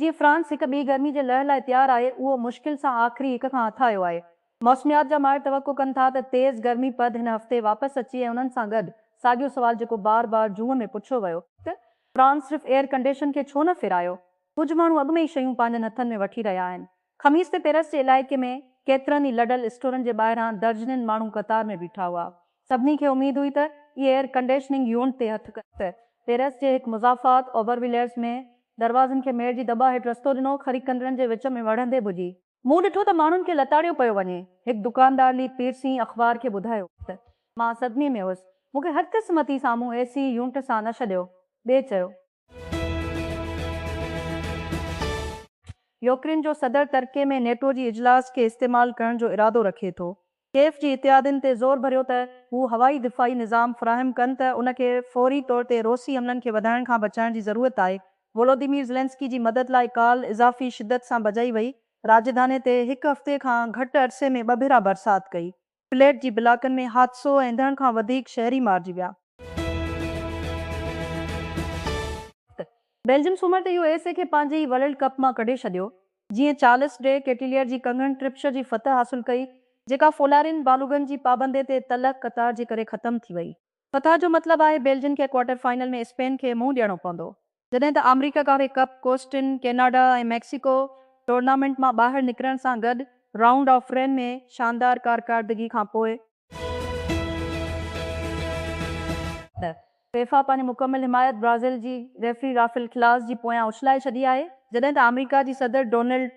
جيئن فرانس هڪ ٻي گرمي جي لهر لاء تيار آهي، اهو مشڪل سان آخري هڪ کان هٿاهيو آهي. موسميات جا ماهر توقع ڪن ٿا ته تيز گرمي پد هن هفتي واپس اچي ۽ انهن سان گڏ ساڳيو سوال جيڪو بار بار جون ۾ پڇيو ويو ته فرانس صرف ايئر ڪنڊيشن کي ڇو نه ڦيرايو؟ ڪجهه ماڻهو اڳ ۾ ئي شيون پنهنجن هٿن ۾ وٺي رهيا آهن. خميس تي پيرس جي علائقي ۾ ڪيترن ئي لڊل اسٽورن جي ٻاهران درجنين ماڻهو قطار ۾ بيٺا هئا. سڀني کي اميد هئي ته اهي ايئر ڪنڊيشننگ يونٽ تي هٿ ڪن. پيرس جي هڪ مضافات اوبرويليئرز ۾ دروازن کي ميڙ جي دٻا هيٺ رستو ڏنو، خريد ڪندڙن جي وچ ۾ وڙهندي ڀڄي. مون ڏٺو ته ماڻهن کي لتاڙيو پيو وڃي. هڪ دڪاندار لي پيرسين اخبار کي ٻڌايو ته، مان صدمي ۾ هيس. مون کي هر قسمتي سامهون اي سي يونٽ سان نه ڇڏيو. ٻئي چيو. يوڪرين جو صدر ترڪي ۾ نيٽو جي اجلاس کي استعمال ڪرڻ جو ارادو رکي ٿو، ڪيف جي اتحادين تي زور ڀريو ته هو هوائي دفاعي نظام فراهم ڪن ته ان کي فوري طور تي روسي حملن کي وڌائڻ کان بچائڻ جي ضرورت آهي، وولوديمير زيلنسڪي جي مدد لاء ڪال اضافي شدت سان بجائي وئي، راڄڌاني تي هڪ هفتي کان گهٽ عرصي ۾ ٻه ڀيرا برسات ڪئي. فليٽ جي بلاڪن ۾ حادثو ۽ ڌڻ کان وڌيڪ شهري مارجي ويا. بيلجم سومر تي يو ايس اي کي پنهنجي ورلڊ ڪپ مان ڪڍي ڇڏيو جيئن چارلس ڊي ڪيٽيليئر جي ڪنگن ٽرپشر جي فتح حاصل ڪئي جيڪا فولارين بالوگن جي پابندي تي تلخ قطار جي ڪري ختم ٿي وئي. فتح جو مطلب آهي بيلجين کي ڪوارٽر فائنل ۾ اسپين کي منهن ڏيڻو پوندو، جڏهن ته آمريڪا ڪاري ڪپ، ڪوسٽن، ڪيناڊا ۽ ميڪسيڪو ٽورنامينٽ مان ٻاهر نڪرڻ سان گڏ رائونڊ آف رين ۾ شاندار ڪارڪاردگي کان پوء، فيفا پنهنجي مڪمل حمايت برازيل جي ريفري رافيل ڪلاس جي پويان اڇلائي ڇڏي آهي، جڏهن ته آمريڪا جي صدر ڊونلڊ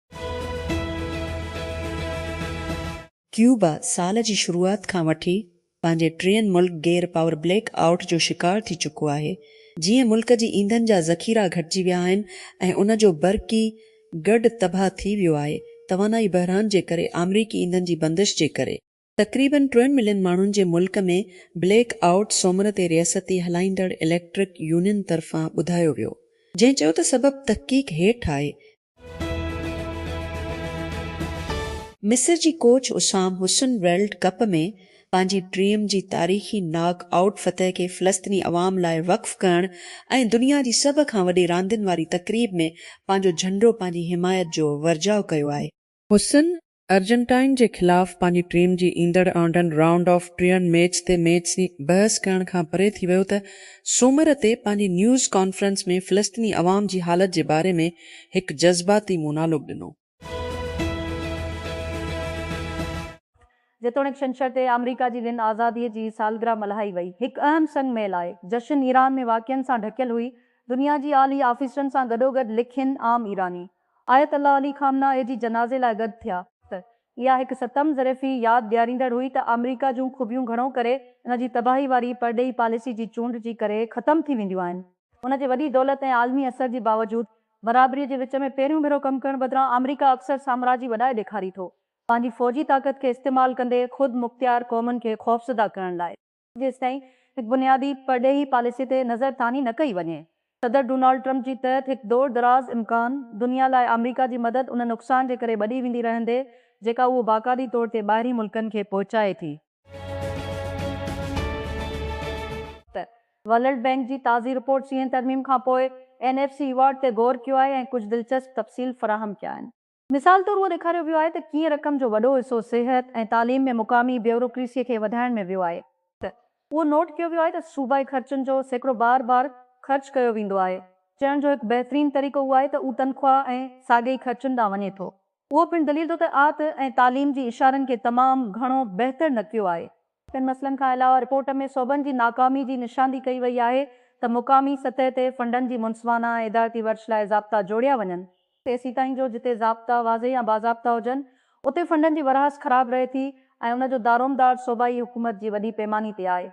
ڪيوبا سال جي شروعات کان وٺي پنهنجي ٽين ملڪ گير پاور بليڪ آئوٽ جو شڪار ٿي چڪو آهي، جيئن ملڪ جي ايندھن جا ذخيرا گھٽجي ويا آهن ۽ ان جو برقي گرڊ تباھ ٿي ويو آهي، توانائي بحران جي ڪري، آمريڪي ايندھن جي بندش جي ڪري. تقريبن ٽن ملين ماڻهن جي ملڪ ۾ بليڪ آئوٽ سومر تي رياستي هلائيندڙ اليڪٽرڪ يونين طرفان ٻڌايو ويو جنهن چيو ته سبب تحقيق هيٺ آهي. مصر جي coach Hossam Hassan world cup ۾ پنهنجي ڊريم جي تاريخي ناڪ آئوٽ فتح کي فلسطيني عوام لاء وقف ڪرڻ ۽ دنيا جي سڀ کان وڏي راندين واري تقريب ۾ پنهنجو جهنڊو پنهنجي حمايت جو ورجاء ڪيو آهي. حسن ارجنٽائن جي خلاف پنهنجي ٽيم جي ايندڙ آنڊن رائونڊ آف ٽرين ميچ تي ميچ جي بحث ڪرڻ کان پري ٿي ويو ته سومر تي پنهنجي نيوز ڪانفرنس ۾ فلسطيني عوام جي حالت جي باري ۾ هڪ جذباتي مونالوگ ڏنو. جيتوڻيڪ ڇنڇر تي آمريڪا جي وين آزادي جي سالگرهه ملهائي وئي، هڪ اهم سنگ ميل آهي. جشن ايران ۾ واقعن سان ڍڪيل هئي، دنيا جي اعلي آفيسرن سان گڏوگڏ لکين عام ايراني. آيت الله علي خامنه اي جي جنازي لاء گڏ ٿيا ته اها هڪ ستم ظرفي ياد ڏياريندڙ هئي ته آمريڪا جون خوبيون گهڻو ڪري ان جي تباهي واري پرڏيهي پاليسي جي چونڊ جي ڪري ختم ٿي وينديون آهن. ان جي وڏي دولت ۽ عالمي اثر جي باوجود برابري جي وچ ۾ پهريون ڀيرو ڪم ڪرڻ بدران آمريڪا اڪثر سامراجي وڏائي ڏيکاري ٿو پنهنجي فوجي طاقت کي استعمال ڪندي خود مختيار قومن کي خوفزده ڪرڻ لاء. جيستائين هڪ بنيادي پرڏيهي پاليسي تي نظر ٿاني نه ڪئي وڃي، صدر ڊونالڊ ٽرمپ جي تحت هڪ دور دراز امڪان دنيا لاء آمريڪا جي مدد ان نقصان جي ڪري وڏي ويندي رهندي جيڪا اهو باقاعدي طور تي ٻاهرين ملڪن کي پهچائي ٿي. ورلڊ بينڪ جي تازي رپورٽ سيئن ترميم کانپوء اين ايف سي ايوارڊ تي غور ڪيو آهي ۽ ڪجهه دلچسپ تفصيل فراهم ڪيا آهن. مثال طور اهو ڏيکاريو ويو آهي ته ڪيئن رقم جو وڏو حصو صحت ۽ تعليم ۾ مقامي بيوروڪريسيء کي وڌائڻ ۾ ويو آهي. اهو نوٽ ڪيو ويو آهي ته صوبائي خرچن جو سيڪڙو بار بار خرچ ڪيو ويندو آهي. چئڻ جو هڪ بهترين طريقو اهو آهي ته اهو تنخواهه ۽ ساڳي ئي خرچن ڏانهن وڃي ٿو. اهو پڻ دليل ٿو ته آت ۽ تعليم جي اشارن کي تمام گهڻو بهتر نڪتيو آهي. ٻين مسئلن کان علاوه رپورٽ ۾ صوبن جي ناڪامي جي نشاندهي ڪئي وئي آهي ته مقامي سطح تي فنڊن جي منصفانه ۽ ادارتي ورڇ لاء ضابطا جوڙيا وڃن، تيسيتائين جو جتي ضابطا واضح ۽ باضابطا هجن اتي فنڊن جي ورهاست خراب رهي ٿي ۽ ان جو دارومدار صوبائي حڪومت جي وڏي پيماني تي آهي.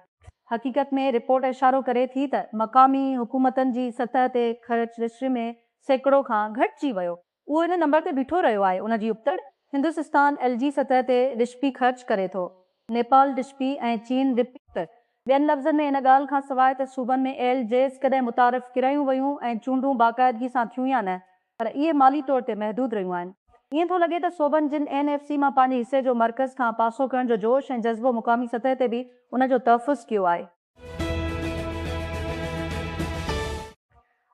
حقيقت ۾ رپورٽ اشارو ڪري ٿي ته مقامي حڪومتن جي سطح تي خرچ رجسٽري ۾ سيڪڙو کان گهٽجي ويو، اهو ان نمبر تي بيٺو رهيو آهي ان جي ابتڙ هندوسستان ايل جي سطح تي رشپي خرچ ڪري ٿو نيپال رشپي ۽ چين رپي ته ٻين لفظن ۾ ان ڳالهه کان سواء ته صوبن ۾ ايل جيز ڪڏهن متعارف ڪرايون ويون ۽ چونڊون باقاعدگي سان ٿيون يا نه پر اهي مالي طور تي محدود رهيون آهن ائين ٿو لڳي ته صوبن جن اين ايف سي مان پنهنجي حصي جو مرڪز کان پاسو ڪرڻ جو جوش ۽ جذبو مقامي سطح تي به ان جو تحفظ ڪيو آهي.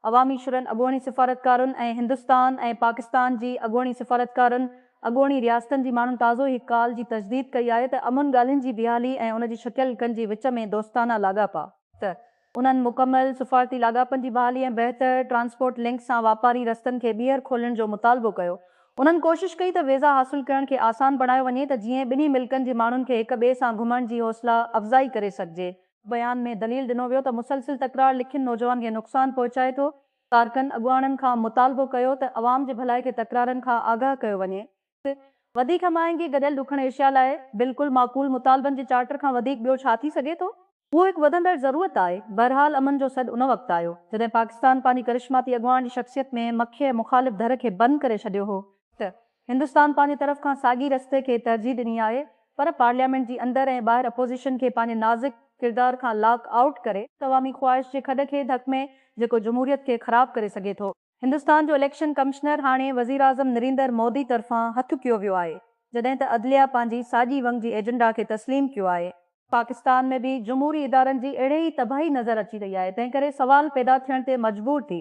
عوامي شھرن، اڳوڻي سفارتڪارن ۽ ھندستان ۽ پاڪستان جي اڳوڻي سفارتڪارن، اڳوڻي رياستن جي ماڻھن تازو ھي ڪال جي تجديد ڪئي آھي ته امن ڳالھين جي بحالي ۽ ان جي شڪيل ھڪن جي وچ ۾ دوستانه لاڳاپا، ته انھن مڪمل سفارتي لاڳاپن جي بحالي ۽ بهتر ٽرانسپورٽ لنڪ سان واپاري رستن کي ٻيھر کولڻ جو مطالبو ڪيو، انهن ڪوشش ڪئي ته ويزا حاصل ڪرڻ کي آسان بڻايو وڃي ته جيئن ٻنهي ملڪن جي ماڻهن کي هڪ ٻئي سان گهمڻ جي حوصلا افزائي ڪري سگهجي. بيان ۾ دليل ڏنو ويو ته مسلسل تڪرار لکين نوجوان کي نقصان پهچائي ٿو، ڪارڪن اڳواڻن کان مطالبو ڪيو ته عوام جي ڀلائي کي تڪرارن کان آگاهه ڪيو وڃي. وڌيڪ هماهنگي گڏيل ڏکڻ ايشيا لاء بلڪل معقول مطالبن جي چارٽر کان وڌيڪ ٻيو ڇا ٿي سگهي ٿو؟ اهو هڪ وڌندڙ ضرورت آهي. بهرحال امن جو سڏ ان وقت آيو، جڏهن پاڪستان پنهنجي ڪرشماتي اڳواڻ جي شخصيت ۾ مکيه مخالف ڌر کي بند ڪري ڇڏيو هو ته هندستان پنهنجي طرف کان ساڳئي رستي کي ترجيح ڏني آهي پر پارليامينٽ جي اندر ۽ ٻاهر اپوزيشن کي پنهنجي نازڪ ڪردار کان لاڪ آئوٽ ڪري عوامي خواهش جي کڏ کي ڌڪ ۾ جيڪو جمهوريت کي خراب ڪري سگهي ٿو. هندستان جو اليڪشن ڪمشنر هاڻي وزيراعظم نريندر مودي طرفان هٿ ڪيو ويو آهي، جڏهن ته عدليه پنهنجي ساڄي ونگ جي ايجنڊا کي تسليم ڪيو آهي. پاڪستان ۾ به جمهوري ادارن جي اهڙي ئي تباهي نظر اچي رهي آهي، تنهنڪري سوال پيدا ٿيڻ تي مجبور ٿي،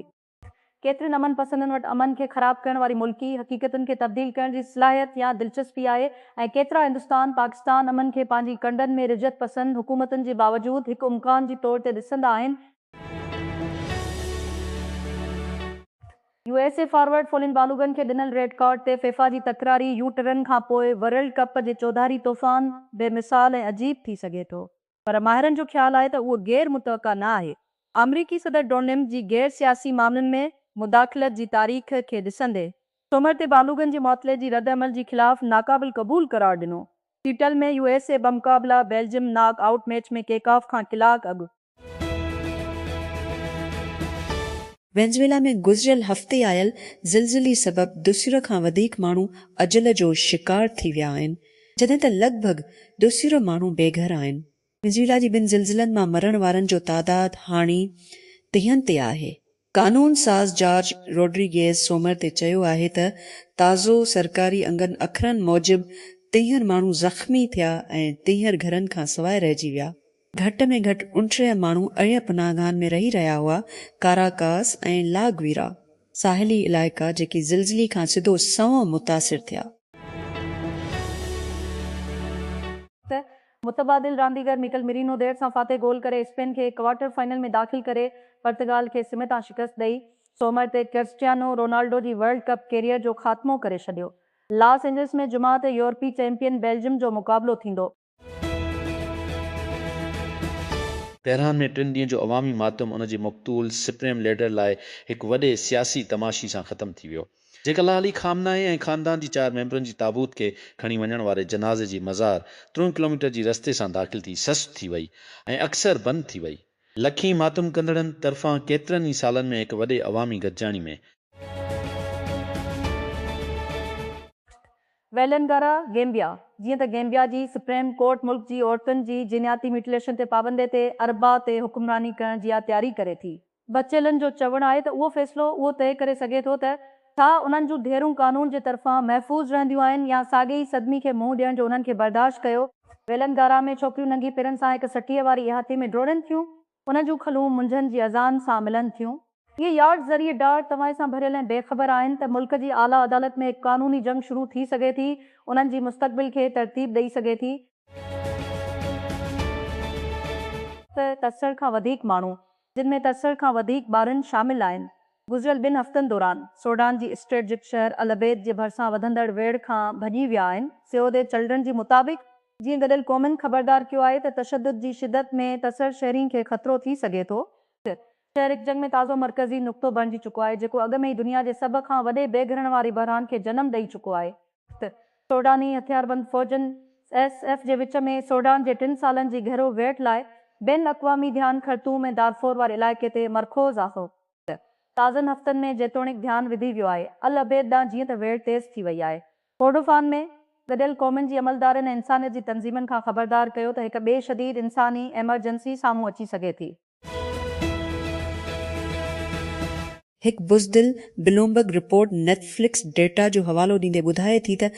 ڪيترن امن پسندن وٽ امن کي خراب ڪرڻ واري ملڪي حقيقتن کي تبديل ڪرڻ جي صلاحيت يا دلچسپي آهي ۽ ڪيترا هندستان پاڪستان امن کي پنهنجي ڪنڊن ۾ رجعت پسند حڪومتن جي باوجود هڪ امڪان جي طور تي ڏسندا آهن U S A forward Folarin Balogun کي ڏنل ريڊ ڪارڊ تي فيفا جي تڪراري يو ٽرن کانپوء ورلڊ ڪپ جي چوڌاري طوفان بي مثال ۽ عجيب ٿي سگهي ٿو. پر ماهرن جو خيال آهي ته اهو غير متوقع نه آهي. آمريڪي صدر ڊونلڊ جي غير سياسي معاملن ۾ مداخلت جي تاريخ کي ڏسندي سومر تي بالوگن جي معطلي جي رد عمل جي خلاف ناقابل قبول قرار ڏنو. سيئٽل ۾ يو ايس اي بمقابله Belgium knockout match ۾ kick off کان ڪلاڪ اڳ. وينزويلا ۾ گذريل هفتي آيل زلزلي سبب دوسيره کان وڌيڪ ماڻهو اجل جو شڪار ٿي ويا آهن، جڏهن ته لڳ ڀڳ دوسيره ماڻهو بي گهر آهن. وينزويلا جي ٻن زلزلن مان مرڻ وارن جو تعداد هاڻي ٽيهن تي آهي. قانون ساز جارج روڊريگيز سومر تي چيو آهي ته تازو سرڪاري انگن اکرن موجب ٽيهر ماڻهو زخمي ٿيا ۽ ٽيهر گهرن کان سواء رهجي ويا. گهٽ ۾ گهٽ اڻٽيهه ماڻهو اهڙين پناهگاهن ۾ رهي رهيا هئا، ڪاراڪاس ۽ لا گويرا. ساحلي علائقا جيڪي زلزلي کان سڌو سنئون متاثر ٿيا. ته متبادل رانديگر ميڪل مرينو دير سان فاتح گول ڪري اسپين کي ڪوارٽر فائنل ۾ داخل ڪري پرتگال کي سم تان شڪست ڏئي سومر تي ڪرسٽيانو رونالڊو جي ورلڊ ڪپ ڪيريئر جو خاتمو ڪري ڇڏيو لاس اينجلس ۾ جمعه تي يورپي چيمپيئن بيلجم جو مقابلو ٿيندو. تهران ۾ ٽن ڏينهن جو عوامي ماتم ان جي مقتول سپريم ليڊر لاء هڪ وڏي سياسي تماشي سان ختم ٿي ويو. جيڪلا علي خامنائي ۽ خاندان جي چار ميمبرن جي تابوت کي کڻي وڃڻ واري جنازي جي مزار ترنهن ڪلوميٽر جي رستي سان داخل ٿي سست ٿي وئي ۽ اڪثر بند ٿي وئي. لکين ماتم ڪندڙن طرفان ڪيترن ئي سالن ۾ هڪ وڏي عوامي گڏجاڻي ۾. ويلنگارا، گيمبيا، جيئن ته گيمبيا جي سپريم ڪورٽ ملڪ جي عورتن جي جينياتي ميوٽيليشن تي پابندي تي اربع تي حڪمراني ڪرڻ جيا تياري ڪري ٿي، بچيلن جو چوڻ آهي ته اهو فيصلو اهو طئي ڪري سگهي ٿو ته ڇا انهن جون ڌيئرون قانون جي طرفان محفوظ رهنديون آهن يا ساڳئي ئي صدمي کي منهن ڏيڻ جو انهن کي برداشت ڪيو ويلن گارا ۾ ڇوڪريون ننگي پيرن سان هڪ سٽيء واري احاطي ۾ ڊوڙين ٿيون انهن جون کلون منجهن جي اذان سان ملن ٿيون. اهي يارڊ ذريعي ڊاڙ توانء سان ڀريل ۽ بي خبر آهن ته ملڪ جي اعليٰ عدالت ۾ هڪ قانوني جنگ شروع ٿي سگهي ٿي انهن جي مستقبل کي ترتيب ڏئي سگهي ٿي. ته تسڙ کان وڌيڪ ماڻهو جن ۾ ترسل کان وڌيڪ ٻارن شامل آهن. گذريل ٻن هفتن دوران سوڊان جي اسٽريٽجڪ شهر العبيد جي ڀرسان وڌندڙ ويڙهه کان ڀڄي ويا آهن. سيوڌ چلڊرن جي مطابق، جيئن گڏيل قومن خبردار ڪيو آهي ته تشدد جي شدت ۾ ترسل شهرين کي خطرو ٿي سگهي ٿو. شهر هڪ جڳ ۾ تازو مرڪزي نقطو بڻجي چڪو آهي، جيڪو اڳ ۾ ئي دنيا جي سڀ کان وڏي بي گهرڻ واري بحران کي جنم ڏئي چڪو آهي. وقت سوڊاني هٿياربند فوجن، ايس ايف، جي وچ ۾ سوڊان جي ٽن سالن جي گهرو ويڙهه لاء بين الاقوامي ڌيان خرطوم ۽ دارفور واري علائقي تي مرڪوز آهي. وقت تازن هفتن ۾ جيتوڻيڪ ڌيان وڌي ويو آهي العبيد ڏانهن جيئن ته ويڙهه تيز ٿي وئي آهي. ڪورڊوفان ۾ گڏيل قومن جي عملدارن ۽ انسانيت جي تنظيمن کان خبردار ڪيو ته هڪ ٻي شديد انساني ايمرجنسي سامهون اچي سگهي ٿي. هڪ بزدل Bloomberg report Netflix data جو حوالو ڏيندي ٻڌائي ٿي ته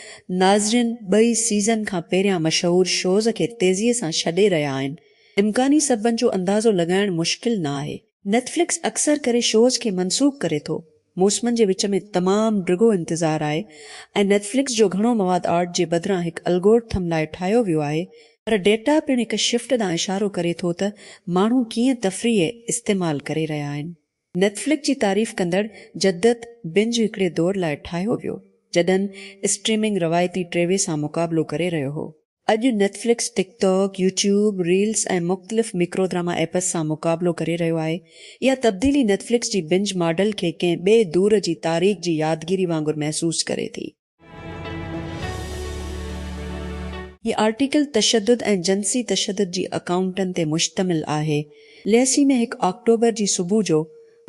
ناظرين ٻئي سيزن کان پهريان مشهور شوز کي تيزي سان ڇڏي رهيا آهن. امڪاني سببن جو اندازو لڳائڻ مشڪل نه آهي. نيٽ فلڪس اڪثر ڪري شوز کي منسوخ ڪري ٿو. موسمن جي وچ ۾ تمام ڊگهو انتظار آهي ۽ نيٽفلڪس جو گهڻو مواد آرٽ جي بدران هڪ الگورٿم لاء ٺاهيو ويو آهي، پر ڊيٽا پڻ هڪ شفٽ ڏانهن اشارو ڪري ٿو ته ماڻهو ڪيئن تفريح استعمال ڪري رهيا آهن. نيٽفلڪس جي تعريف ڪندڙ جدت بنج هڪڙي دور لاء ٺاهيو ويو، جڏھن اسٽريمنگ روايتي ٽي وي سان مقابلو ڪري رهيو هو. اڄ Netflix, TikTok, YouTube, reels ۽ مختلف ميڪرو ڊراما ايپس سان مقابلو ڪري رهيو آهي. اها تبديلي نيٽفلڪس جي بنج ماڊل کي ڪنهن ٻئي دور جي تاريخ جي يادگيري وانگر محسوس ڪري ٿي. هي آرٽيڪل تشدد ۽ جنسي تشدد جي اڪائونٽن تي مشتمل آهي. ليسي ۾ هڪ آڪٽوبر جي صبح جو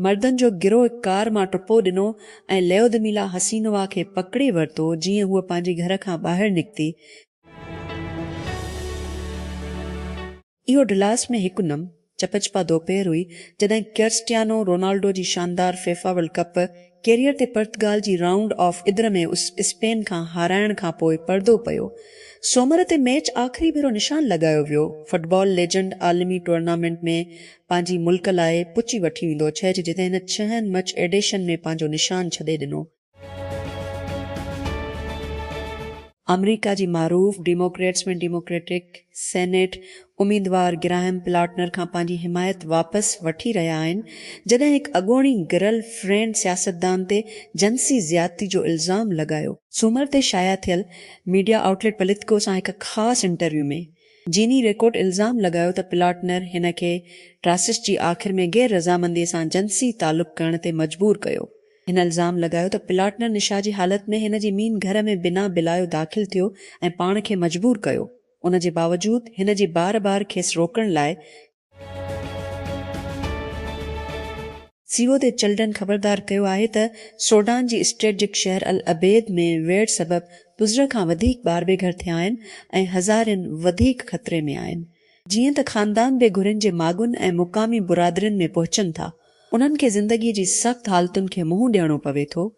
مردن جو گروهه ڪار مان ٽپو ڏنو ۽ ليودميلا حسينووا کي پڪڙي ورتو جيئن هوء پنهنجي گهر کان ٻاهر نڪتي. اهو ڊلاس ۾ هڪ نم چپچپا دوپهر هئي جڏهن ڪرسٽيانو رونالڊو جي شاندار فيفا ورلڊ ڪپ ڪيريئر تي پرتگال جي رائونڊ آف ادر ۾ اسپين کان هارائڻ کانپوء پردو پيو. سومر تي ميچ آخري ڀيرو نشان لڳايو ويو. فٽبال ليجنڊ عالمي ٽورنامينٽ ۾ پنهنجي ملڪ لاء پچي وٺي ويندو ڇهج جتي هن ڇهن مچ ايڊيشن ۾ پنهنجو نشان ڇڏي ڏنو. آمريڪا جي معروف ڊيموڪريٽس ۾ ڊيموڪريٽڪ سينيٽ اميدوار گراهم پلاٽنر کان پنهنجي حمايت واپس وٺي رهيا آهن جڏهن هڪ اڳوڻي گرل فرينڊ سياستدان تي جنسي زيادتي جو الزام لڳايو. سومر تي شايع ٿيل ميڊيا آئوٽ ليٽ پليتڪو سان هڪ خاص انٽرويو ۾ جيني ريڪوٽ الزام لڳايو ته پلاٽنر هن کي ٽراسٽ جي آخر ۾ غير رضامندي سان جنسي تعلق ڪرڻ تي مجبور ڪيو. هن الزام لڳايو ته پلاٽنر نشا جي حالت ۾ هن جي مين گهر ۾ بنا بلايو داخل ٿيو ۽ پاڻ کي مجبور ڪيو. ان جي باوجود هن جي بار بار کيس روڪڻ لاء سي او تي چلڊرن خبردار ڪيو آهي ته سوڊان جي اسٽريٽجڪ شهر العبيد ۾ ويڙهه سبب پزره کان وڌيڪ ٻار بي گهر ٿيا آهن ۽ هزارين وڌيڪ خطري ۾ آهن. جيئن ته خاندان بي گهرين جي ماڳن ۽ مقامي برادرين ۾ پهچن ٿا، انهن کي زندگي جي سخت حالتن کي منهن ڏيڻو پوي ٿو،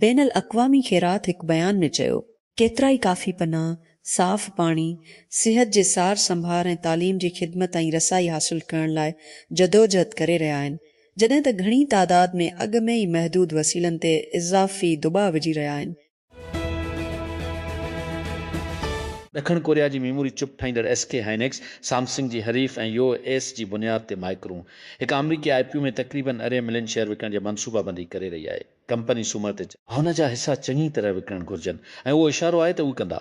بين الاقوامي خيرات هڪ بيان ۾ چيو. ڪيترائي ڪافي پناهه، صاف پاڻي، صحت جي سار سنڀار ۽ تعليم جي خدمت تائين رسائي حاصل ڪرڻ لاء جدوجهد ڪري رهيا آهن، جڏهن ته گهڻي تعداد ۾ اڳ ۾ ئي محدود وسيلن تي اضافي دٻاء وجهي رهيا آهن. ڏکڻ ڪوريا جي ميموري چپ ٺاهيندڙ ايس ڪي هائنڪس سامسنگ جي حريف ۽ يو ايس جي بنياد تي مائڪرون هڪ آمريڪي آء پي او ۾ تقريبن ارڙهن ملين شيئر وڪڻڻ جي منصوبابندي ڪري رهي آهي. ڪمپني سومر تي چيو. هن جا حصا چڱي طرح وڪڻڻ گهرجن ۽ اهو اشارو آهي ته اهي ڪندا.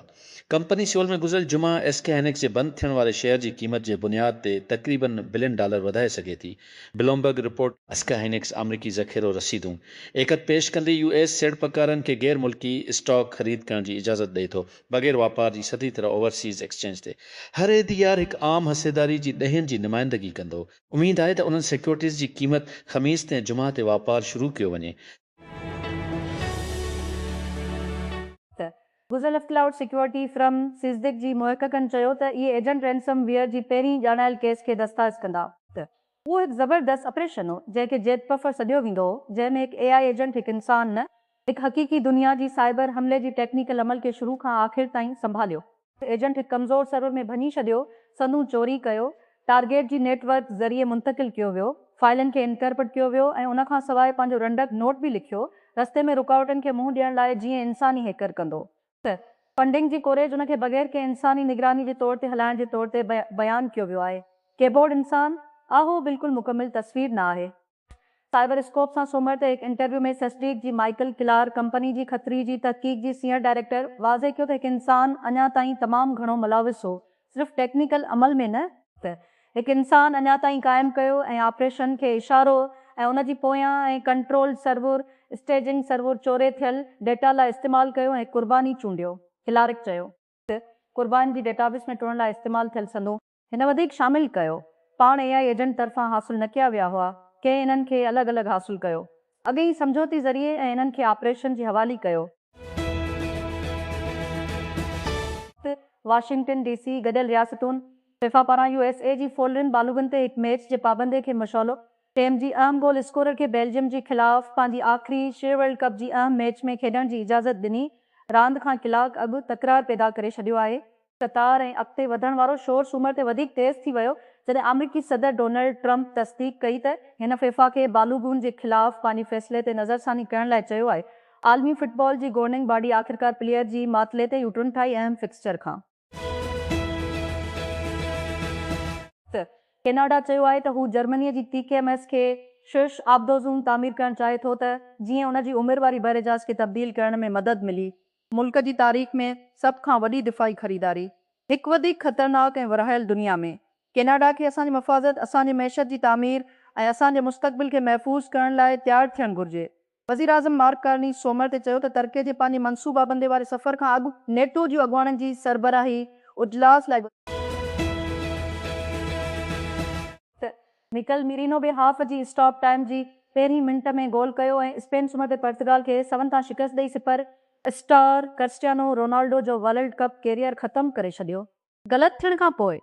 ڪمپني سيول ۾ گذريل جمعه ايس ڪي هائنڪس جي بند ٿيڻ واري شيئر جي قيمت جي بنياد تي تقريباً بلين ڊالر وڌائي سگهي ٿي، بلومبرگ رپورٽ. ايسڪي هائنڪس آمريڪي ذخيرو رسيدون ايکت پيش ڪندي يو ايس سيڙپڪارن کي غير ملڪي اسٽاڪ خريد ڪرڻ جي اجازت ڏئي ٿو بغير واپار جي سڌي طرح اوورسيز ايڪسچينج تي. هر ايڌيار هڪ عام حصيداري جي ڏهين جي نمائندگي ڪندو. اميد آهي ته انهن سيڪيورٽيز جي قيمت خميس تي ۽ جمعه تي واپار شروع ڪيو وڃي. ته گزلفڪلائوڊ سيڪيورٽي فرم سيسديڪ جي محققن چيو ته اهي ايجنٽ رينسم ويئر جي پهرين ڄاڻايل ڪيس کي دستاز ڪندا. ته اهو هڪ زبردست آپريشن هو جنهن کي جيت پفر سڏيو ويندو هو جنهن ۾ هڪ اي آء ايجنٽ هڪ انسان نه هڪ حقيقي دنيا جي سائبر حملي جي ٽيڪنيڪل عمل کي شروع کان آخر تائين سنڀاليو. ايجنٽ هڪ ڪمزور سرور ۾ ڀڃي ڇڏيو، سندون چوري ڪيو، ٽارگيٽ جي نيٽ ورڪ ذريعي منتقل ڪيو ويو، فائلن کي انڪرپٽ ڪيو ويو ۽ ان کان سواء پنهنجو رنڊڪ نوٽ به لکيو، رستي ۾ رڪاوٽن کي منهن ڏيڻ لاء جيئن انساني هيڪر ڪندو ته فنڊنگ جي ڪوريج ان کي بغير ڪنهن انساني نگراني جي طور تي هلائڻ جي طور تي بيان ڪيو ويو آهي. ڪيبورڊ انسان، اهو بلڪل مڪمل تصوير نه آهي. سائبر اسڪوپ سان سومر تي هڪ انٽرويو ۾ سيسڊيڪ جي مائيڪل ڪلار ڪمپني جي خطري جي تحقيق جي سينئر ڊائريڪٽر واضح ڪيو ته هڪ انسان اڃا تائين تمام گهڻو ملوث هو صرف ٽيڪنيڪل عمل ۾ نه ته هڪ انسان اڃا تائين قائم ڪيو ۽ آپريشن کي اشارو ۽ ان جي پويان ۽ ڪنٽرول سرور اسٽيجنگ سرور چوري ٿيل ڊيٽا لاء استعمال ڪيو ۽ هڪ قرباني چونڊيو ڪلارڪ چيو ته قربان جي ڊيٽابيس ۾ ٽوڙڻ لاء استعمال ٿيل سندون. هن وڌيڪ شامل ڪيو. پاڻ اي آء ايجنٽ طرفان حاصل نه ڪيا ويا هئا، ڪنهن انهن کي الڳ الڳ حاصل ڪيو. اڳئين ئي سمجهوتي ذريعي ۽ انهن کي آپريشن جي حوالي ڪيو. ته واشنگٽن ڊي سي، گڏيل رياستون، فيفا پاران يو ايس اي جي فولرين بالغن تي هڪ ميچ جي پابندي کي مشعلو ٽيم جي اهم گول اسڪورر کي بيلجيم جي خلاف پنهنجي آخري شي ورلڊ ڪپ جي اهم ميچ ۾ کيڏڻ جي اجازت ڏني راند کان ڪلاڪ اڳ تڪرار پيدا ڪري ڇڏيو آهي. قطار ۽ اڳتي وڌڻ وارو شور سومر تي وڌيڪ تيز ٿي ويو جڏهن آمريڪي صدر ڊونلڊ ٽرمپ تصديق ڪئي ته هن فيفا کي بالوغون جي خلاف پنهنجي فيصلي تي نظرثاني ڪرڻ لاء چيو آهي عالمي فٽبال جي گورننگ باڊي آخرڪار پليئر جي معطلي تي يو ٽرن ٺاهي اهم فڪسچر کان ته ڪيناڊا چيو آهي ته هو جرمني جي تي ڪي ايم ايس کي شش آبدوزون تعمير ڪرڻ چاهي ٿو ته جيئن ان جي عمر واري بحرجاز کي تبديل ڪرڻ ۾ مدد ملي ملڪ جي تاريخ ۾ سڀ کان وڏي دفاعي خريداري هڪ وڌيڪ خطرناڪ ۽ ورهايل دنيا ۾ ڪيناڊا کي اسان جي مفادت، اسان جي معيشت جي تعمير ۽ اسان جي مستقبل کي محفوظ ڪرڻ لاء تيار ٿيڻ گهرجي. وزيراعظم مارڪ ڪارني سومر تي چيو ته ترڪي جي پنهنجي منصوبابندي واري سفر کان اڳ نيٽو جي اڳواڻن جي سربراهي اجلاس لاء مڪل ميرينو به هاف جي اسٽاپ ٽائيم جي پهرين منٽ ۾ گول ڪيو ۽ اسپين سومر تي پرتگال کي سون تان شڪست ڏئي سپر اسٽار ڪرسٽيانو رونالڊو جو ورلڊ ڪپ ڪيريئر ختم ڪري ڇڏيو. غلط ٿيڻ کان پوء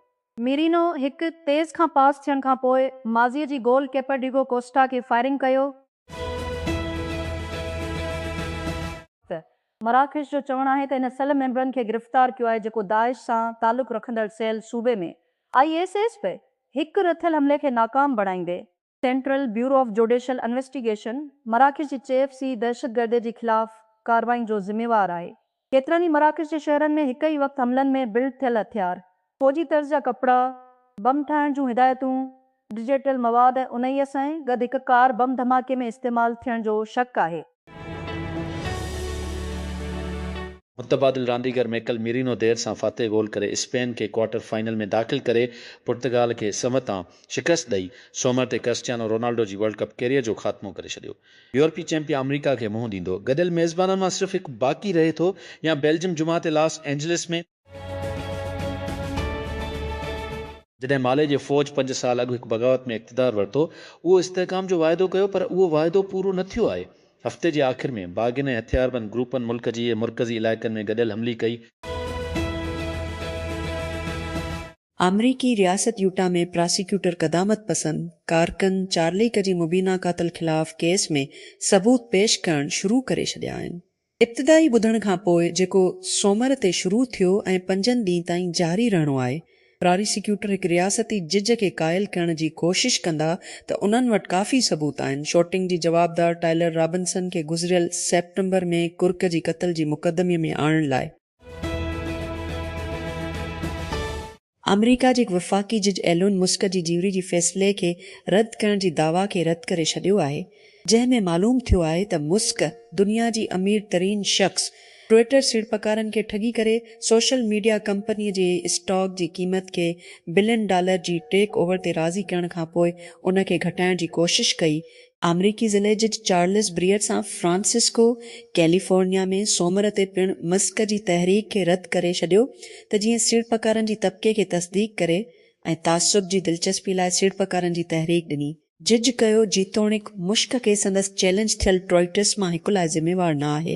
ميرينو هڪ تيز کان پاس ٿيڻ کان پوء ماضي جي گول ڪيپر ڊيگو ڪوسٽا کي فائرنگ ڪيو. مراڪش جو چوڻ آهي ته ان سيل ميمبرن کي گرفتار ڪيو آهي جيڪو داعش سان تعلق رکندڙ سيل صوبي ۾ آء ايس ايس پي هڪ رٿيل حملي کي ناڪام بڻائيندي Central Bureau of Judicial Investigation مراڪش جي چيف سي دهشتگردي جي خلاف ڪارروائين جو ذميوار آهي. ڪيترن ئي مراڪش جي شهرن ۾ هڪ ئي وقت حملن ۾ بلڊ ٿيل هٿيار، فوجي طرز جا ڪپڙا، بم ٺاهڻ جون هدايتون، ڊجيٽل مواد ۽ انهيء سان گڏ هڪ ڪار بم ڌماڪي ۾ استعمال ٿيڻ جو شڪ آهي. متبادل رانديگر ميڪل ميرينو دير سان فاتح گول ڪري اسپين کي ڪوارٽر فائنل ۾ داخل ڪري پرتگال کي سمهه تان شڪست ڏئي سومر تي ڪرسٽيانو رونالڊو جي ورلڊ ڪپ ڪيريئر جو خاتمو ڪري ڇڏيو. يورپي چيمپيئن آمريڪا کي منهن ڏيندو. گڏيل ميزبانن مان صرف هڪ باقي رهي ٿو يا بيلجم جمعه تي لاس اينجلس ۾. جڏهن مالي جي فوج پنج سال اڳ هڪ بغاوت ۾ اقتدار ورتو، اهو استحڪام جو واعدو ڪيو پر اهو واعدو پورو نه ٿيو آهي. هفتي جي آخر ۾ باغين ۽ هٿياربند گروپن ملڪ جي اهي مرڪزي علائقن ۾ گڏيل حملي ڪئي. آمريڪي رياست يوٽا ۾ پراسيڪيوٽر قدامت پسند ڪارڪن چارليڪ جي مبينا قاتل خلاف ڪيس ۾ ثبوت پيش ڪرڻ شروع ڪري ڇڏيا آهن. ابتدائي ٻڌڻ کان پوء جيڪو سومر تي شروع ٿيو ۽ پنجن ڏينهن تائين جاري رهڻو آهي، پراريسيڪيوٽر هڪ رياستي جج کي قائل ڪرڻ جي ڪوشش ڪندا ته انهن وٽ ڪافي ثبوت آهن. شوٽنگ جي جوابدار ٽائلر رابنسن کي گذريل سيپٽمبر ۾ ڪرڪ جي قتل جي مقدمي ۾ آڻڻ لاء. آمريڪا جي هڪ وفاقي جج ايلون مسڪ جي جيوري جي فيصلي کي رد ڪرڻ جي دعويٰ کي رد ڪري ڇڏيو آهي جنهن ۾ معلوم ٿيو آهي ته مسڪ دنيا جي امير ترين شخص ٽوئيٽر سيڙپڪارن کي ٺڳي ڪري سوشل ميڊيا ڪمپني جي اسٽاڪ جي قيمت کي بلين ڊالر جي ٽيڪ اوور تي راضي ڪرڻ کانپوء ان کي گهٽائڻ جي ڪوشش ڪئي آمريڪي ضلعي جج Charles Breyer San Francisco California ۾ سومر تي پڻ مسڪ جي تحريڪ کي رد ڪري ڇڏيو ته جيئن سيڙپڪارن جي طبقي کي تصديق ڪري ۽ تعصب جي دلچسپي لاء سيڙپڪارن جي تحريڪ ڏني. جج ڪيو جيتوڻيڪ مشڪ کي سندس چئلينج ٿيل ٽوئيٽس مان هڪ لاء ذميوار نه آهي